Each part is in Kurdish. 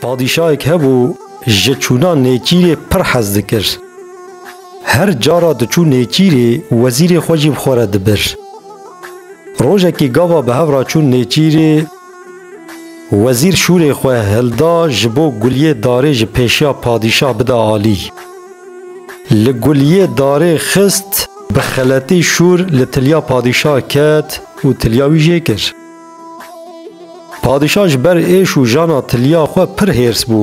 Padîşahek hebû ji çûna nêçîrê pir hez dikir. Her cara diçû nêçîrê wezîrê xwe jî bi xwe re dibir. Rojekî gava bi hev re çûn nêçîrê wezîr şûrê xwe hilda ji bo guliyê darê ji pêşiya padîşah bide alî. Li guliyê darê xist bi xeletî şûr li tiliya padîşah ket û tiliya wî jê kir. Padîşah ji ber êş û jana tiliya xwe pir hêrs bû.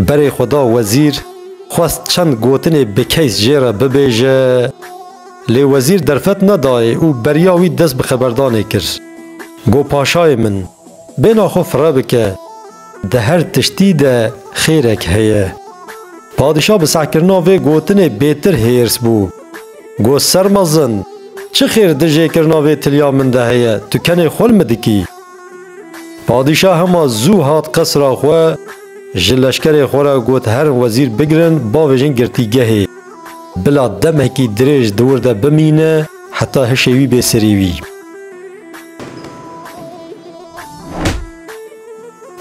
Berê xwe da wezîr, xwest çend gotinê bi keys jê re bibêje, lê wezîr derfet nedayê û beriya wî dest bi xeberdanê kir. Got paşayê min, bêhna xwe firre bike, di her tiştî de xêrek heye. Padîşah bi sehkirina vê gotinê bêtir hêrs bû. Got ser mezin, çi xêr di jêkirina vê tiliya min de heye, tu kenê xol mi dikî? Padîşah hema zû hat qesra xwe, ji leşkerê xwe re got herin wezîr bigirin bavêjin girtîgehê, bila demekî dirêj di wir de bimîne heta hişê wî bê serî wî.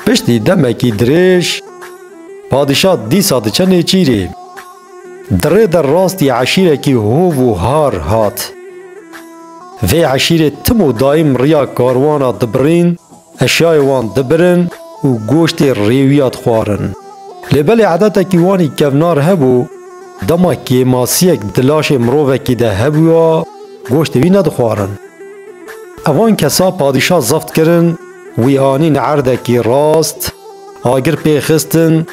Piştî demekî dirêj, padîşah dîsa diçe nêçîrê. Di rê de rastî eşîrekî hov û har hat. Vê eşîrê tim û daîm riya karwana dibirîn, eşyayê wan dibirin û goştê rêwiya dixwarin. Lê belê edetekî wanî kevnar hebû, dema kêmasiyek di laşê mirovekî de hebûya, goştê wî nedixwarin. Evan kesa padîşa zebt kirin, wî anîn erdekî rast, agir pê xistin,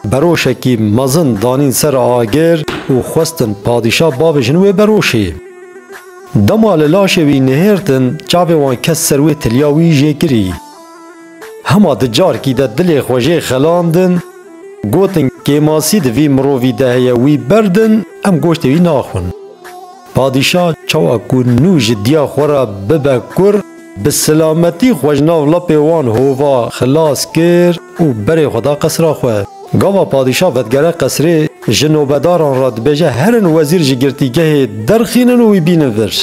Beroşekî mezin danîn ser agir û xwestin padîşah bavêjin wê beroşê. Dema li laşê wî nihêrtin çavê wan ket ser wê tiliya wî jê kirî. Hema di carkî de dilê xwe jê xelandin, gotin kêmasî di vî mirovî de heye wî berdin em goştê wî naxwin. Padîşah çawa ku nû ji diya xwe re bibe kur, Bi silametî xwe ji nav lapê wan hova xilas kir û berê xwe da qesra xwe. Gava padîşah vedigere qesrê, ji nobedaran re dibêje herin wezîr ji girtîgehê derxînin û wî bînin vir.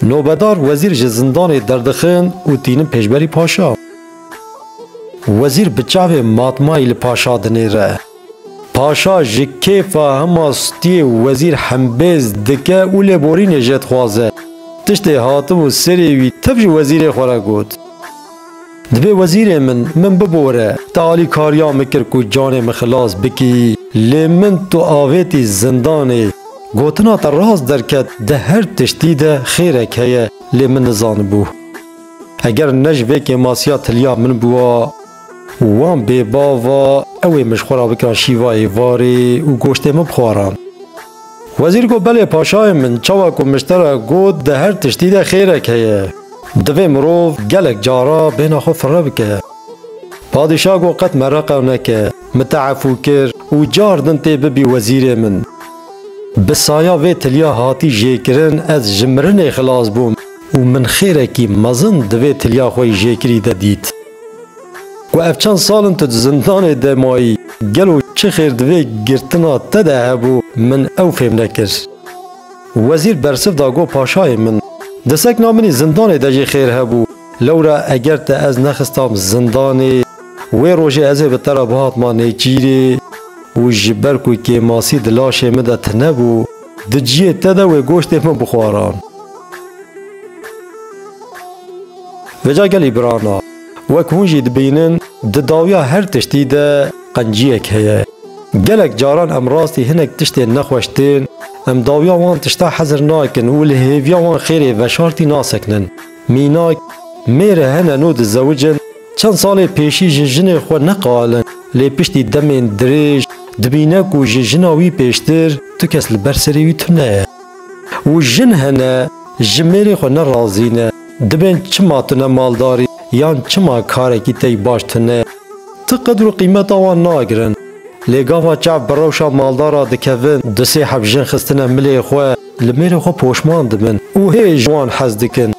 Nobedar wezîr ji zindanê derdixin û tînin pêşberî paşa. Wezîr bi çavê matmayî li paşa dinêre. Paşa ji kêfa hima stiyê û wezîr hembêz dike û lêborînê jê dixwaze. Tiştê hatibû serê wî tev ji wezîrê xwe re got. Divê wezîrê min, min bibore. Te alîkariya min kir ku canê min xilas bikî, lê min tu avêtî zindanê. Gotina te rast derket, di her tiştî de xêrek heye, lê min nizanibû. Eger ne ji vê kêmasiya tiliya min bûa. Û wan bê bava ew ê min ji xwe re bikiran şîvayê varê û goştê min bixwaran. Wezîr got, Belê paşayê min, çawa ku mişte re got di her tiştî de xêrek heye. Divê mirov gelek cara bêhna xwe firre bike. Padîşah got, Qet me reqa neke, min te efû kir û car din tê bibî wezîrê min. Bi saya vê tiliya hatî jêkirin ez ji mirinê xilas bûm û min xêrekî mezin di vê tiliya xwe yî jêkirî de dît. Ku ev çend sal in tu di zindanê de mayî, gelo çi xêr di vê girtina te de hebû min ew fêm nekir. Wezîr bersiv da got paşayê min, di sekna min î zindanê de jî xêr hebû, lewra eger te ez nexistam zindanê, wê rojê ez ê bi te re bihatma nêçîrê û ji ber ku kêmasî di laşê min de tine bû, Di ciyê te de wê goştê min bixwaran. Veca gelî birana, wek hûn jî dibînin di dawiya her tiştî de qenciyek heye. Gelek caran em rastî hinek tiştên nexweş tên, em dawiya wan tişta hezir nakin û li hêviya wan xêrê veşartî nasekinin. Mînak, mêr hene no dizewicin, çend salê pêşî ji jinê xwe neqalin, lê piştî demên dirêj dibîne ku ji jina wî pêştir tu kes li ber serê wî tune ye. Û jin hene ji mêrê xwe ne razî ne, dibên çima tu ne maldarî yan çima karekî tey baş tune. Ti qedr û qîmeta wan nagirin. Lê gava çav bi rewşa maldara dikevin du sê hevjin xistine milê xwe, Li mêrê xwe poşman dibin û hê ji wan hez dikin.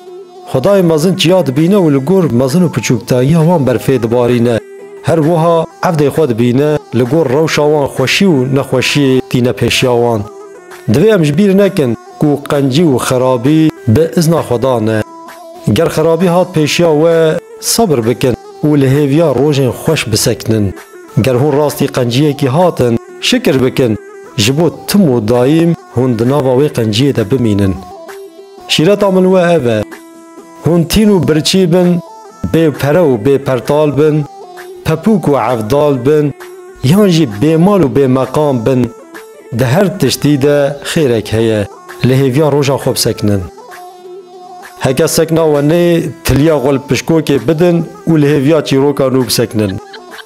Xwedayê mezin çiya dibîne û li gor mezin û piçûkdayiya wan berfê dibarîne. Her wiha evdê xwe dibîne li gor rewşa wan xweşî û nexweşiyê tîne pêşiya wan. Divê em ji bîr nekin ku qencî û xerabî bi izna Xweda ne. Ger xerabî hat pêşiya we, sebir bikin û li hêviya rojên xweş bisekinin. Ger hûn rastî qenciyekî hatin, şikir bikin, ji bo tim û daîm Hûn di nava wê qenciyê de bimînin. Şîreta min we ev e, hûn tîn û birçî bin, bê pere û bê pertal bin, pepûk û evdal bin, yan jî bêmal û bêmeqam bin, di her tiştî de xêrek heye, li hêviya roja xwe bisekinin. Heke sekna we neyê, tiliya xwe li pişkokê bidin û li hêviya çîroka nû bisekinin.